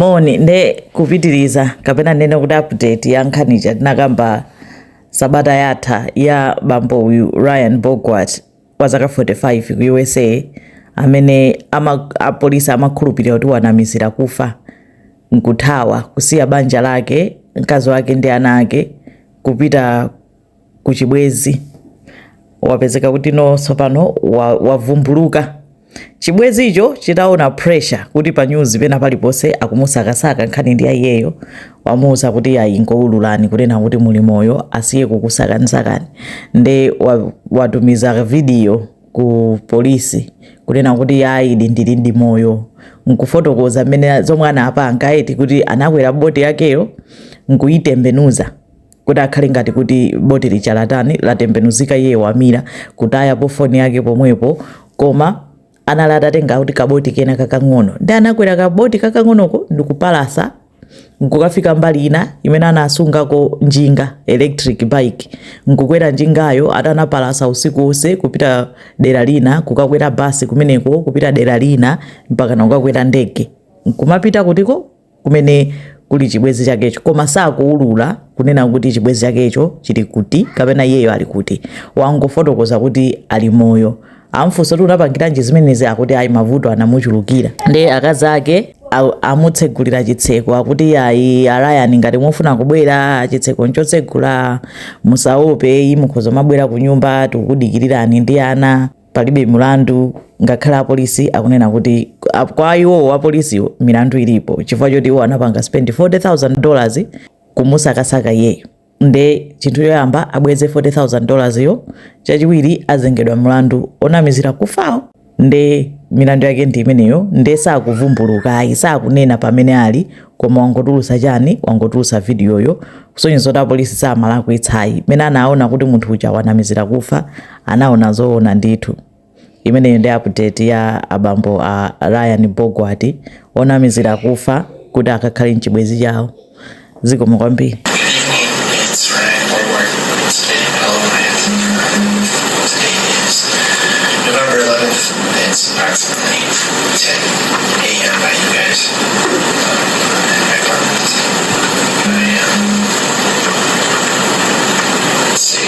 moni nde kupitiriza kapena ninene kuti update ya nkhani ija tinakamba sabata yatha ya bambo uyu ryan borgwardt wa zaka 45 ku usa amene apolisi amakhulupirira kuti wanamizira kufa nkuthawa kusiya banja lake mkazi wake ndi ana ake kupita ku chibwezi wapezeka kuti no tsopano wavumbuluka chibwezicho chitaona pressure kuti pa news pena paliponse akumusakasaka nkhani ndi iyeyo wamuuza kuti ayi ngoululani kunena kuti muli moyo asiye kukusakanizakani nde watumiza video ku polisi kunena kuti ayi ndili ndi moyo nkufotokoza mmene zomwe anapanga eti kuti anakwera boti yakeyo nkuyitembenuza kuti akhale ngati kuti boti lija latani latembenuzika iye wamira kutaya pofoni yake pomwepo koma anali atatenga kuti kaboti kena kakang'ono ndi anakwera kaboti kakang'onoko ndikupalasa nkukafika mbali ina imene anasungako njinga electric bike nkukwera njingayo atanapalasa usiku wonse kupita dera lina kukakwera basi kumeneko kupita dera lina mpaka kukakwera ndege nkumapita kutiko kumene kuli chibwezi chakecho koma sakuulula kunena kuti chibwezi chakecho chili kuti kapena iyeyo ali kuti wangofotokoza kuti ali moyo amfunsa kuti unapangiranji zimenezi akuti ayi mavuto anamuchulukira ndi akazi ake amutsegulira chitseko akuti ayi a ryan ngati mufuna kubwera chitseko nchotsegula musaope mukhoza kumabwera ku nyumba tikukudikirirani ndi ana palibe mlandu ngakhale apolisi akunena kuti kwa iwowo apolisiwo milandu ilipo chifukwa choti iwo anapanga spend 40000 dollars kumusakasaka iyeyo nde chinthu choyamba abweze 40000 dollars yo chachiwiri azengedwa mlandu onamizira kufawo nde milandu yake ndi imeneyo nde sakuvumbuluka ayi sakunena pamene ali koma wangotulusa chani wangotulusa vidiyoyo kusonyeza kuti apolisi samalakwitsayi mene anaona kuti munthu uja wanamizira kufa anaona zoona ndithu imeneyo ndi update ya abambo a ryan borgwardt onamizira kufa kuti akakhale mchibwezi chawo zikomo kwambiri It's Ryan Borgwardt, State Alliance. Today is November 11th. It's approximately 10 a.m. by you guys. Um, I'm in my apartment. I am. Let's see.